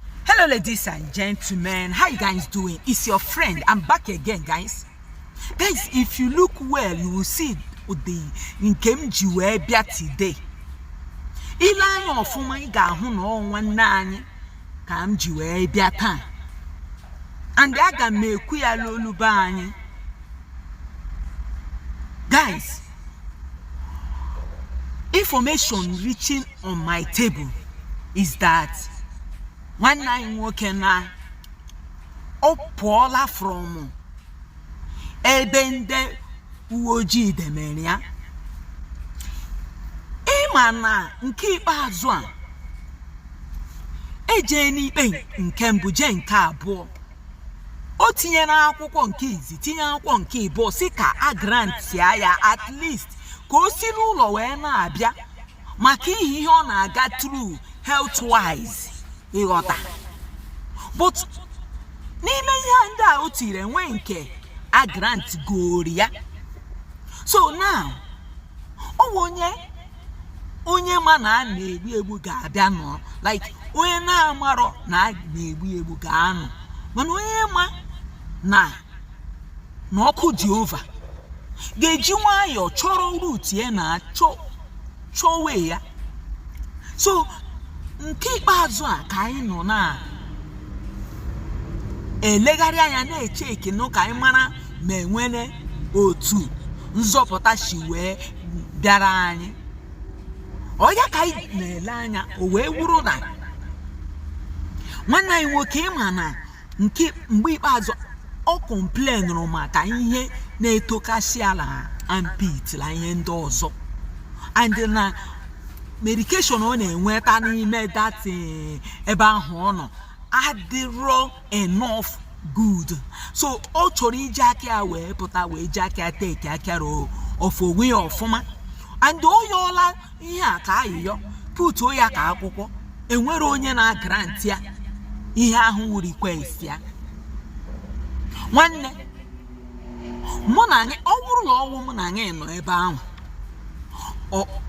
Hello ladies and gentlemen, how you guys doing? It's your friend. I'm back again guys. Guys, if you look well, you will see the nke m ji wee bịa today. Ile anya ọfụma ị ga-ahụ na ọ nwanne anyị ka m ji wee bịa taa. And aga m ekwu ya n'olu be anyị. Guys, information reaching on my table is that nwanne anyị nwoke na ọ pụọla from ebe ndị uwe ojii demere ya ịma na nke ikpeazụ a ejee n'ikpe nke mbụ jee nke abụọ o tinyere akwụkwọ nke izi tinye akwụkwọ nke ịbụọ sị ka a grantia ya at least ka o si n'ụlọ wee na-abịa maka ihe ihe ọ na-aga through health wise ịghọta but n'ime ihe a ndị a o tiri enwe nke a grant gori ya so now ọ bụ onye onye ma na a na-egbu egbu ga-abịa nọ like onye na-amarọ na a na-egbu egbu ga-anọ mana onye ma na na ọkụ jehova ga-eji nwayọọ chọrọ route ya na chọwe ya so nke ikpeazụ a ka anyị nọ na-elegharị anya na-echekene ka anyị mara ma enwere otu nzọpụta si wee bịara anyị ọ ya ka anyị na-ele anya o wee wụrụ na nwanne anyị nwoke ịma na nke mgbe ikpeazụ ọ complainụrụ maka ihe na-etokasị ya la armpit la ihe ndị ọzọ and na medication ọ na-enweta n'ime that ebe ahụ ọ nọ adịrọ enough good so ọ chọrọ iji aka ya wee pụta wee ji aka ya take care of onwe ya ọfụma and o yọọla ihe a ka ayịyọ putuo ya ka akwụkwọ enwere onye na-agrantị ya ihe ahụ wụ request ya nwanne mụ na anyị ọ bụrụ na ọ wụ mụ na anyị nọ ebe ahụ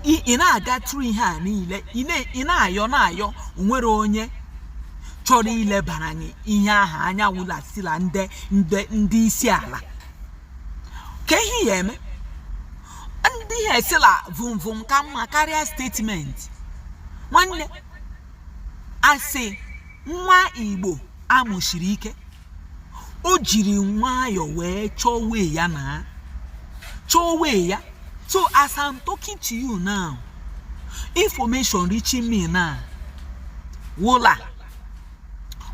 ị na-aga through ihe a niile ị na-ayọ na-ayọ onwere onye chọrọ ilebara anyị ihe ahụ anya wụlasila ndị ndị ndị isi ala ka ihe ya eme ndị ihe sị la vụmvụm ka mma karịa statement nwanne a sị nwa igbo a mụsiri ike o jiri nwayọọ wee chọwe ya na chọwe ya so as i'm talking to you now information reaching me now wụ la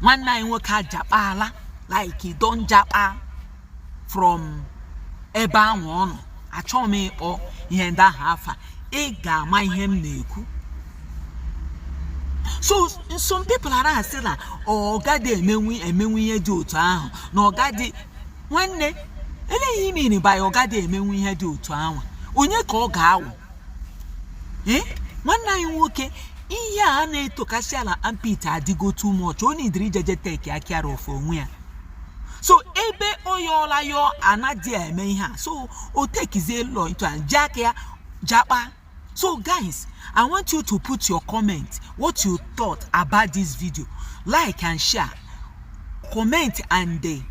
nwanne anyị nwoke ajakpaala like e don jakpa from ebe ahụ ọ nọ achọghị m ịkpọ ihe ndị ahụ afa ị ga-ama ihe m na-ekwu so some people na-asị na ọ gadị emenwu ihe dị otu ahụ na ọ gadị nwanne ele ihe ị miri by ọ gadị emenwu ihe dị otu ahụ onye ka ọ ga-awụ ee eh? nwanne anyị nwoke ihe a na-etokasị ala armpit adịgo too much o nidiri ije je tekia care of onwe ya so ebe ọ yọọla yọọ anadị eme ihe a so o tekizie law into hand ji aka ya jakpa so guys i want you to put your comment what you thought about this video like and share comment and dey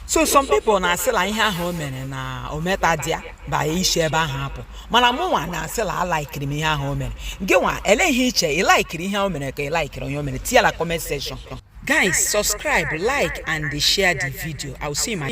so some people na-asị la ihe ahụ o mere na o metadị ya by isi ebe ahụ apụ mana mụ nwa na-asị la alaikiri m ihe ahụ o mere gị nwa ele ihe i che ị laikiri ihe o mere ka ị laikiri onye o mere tinye la comment section guys subscribe like and share the video i will see my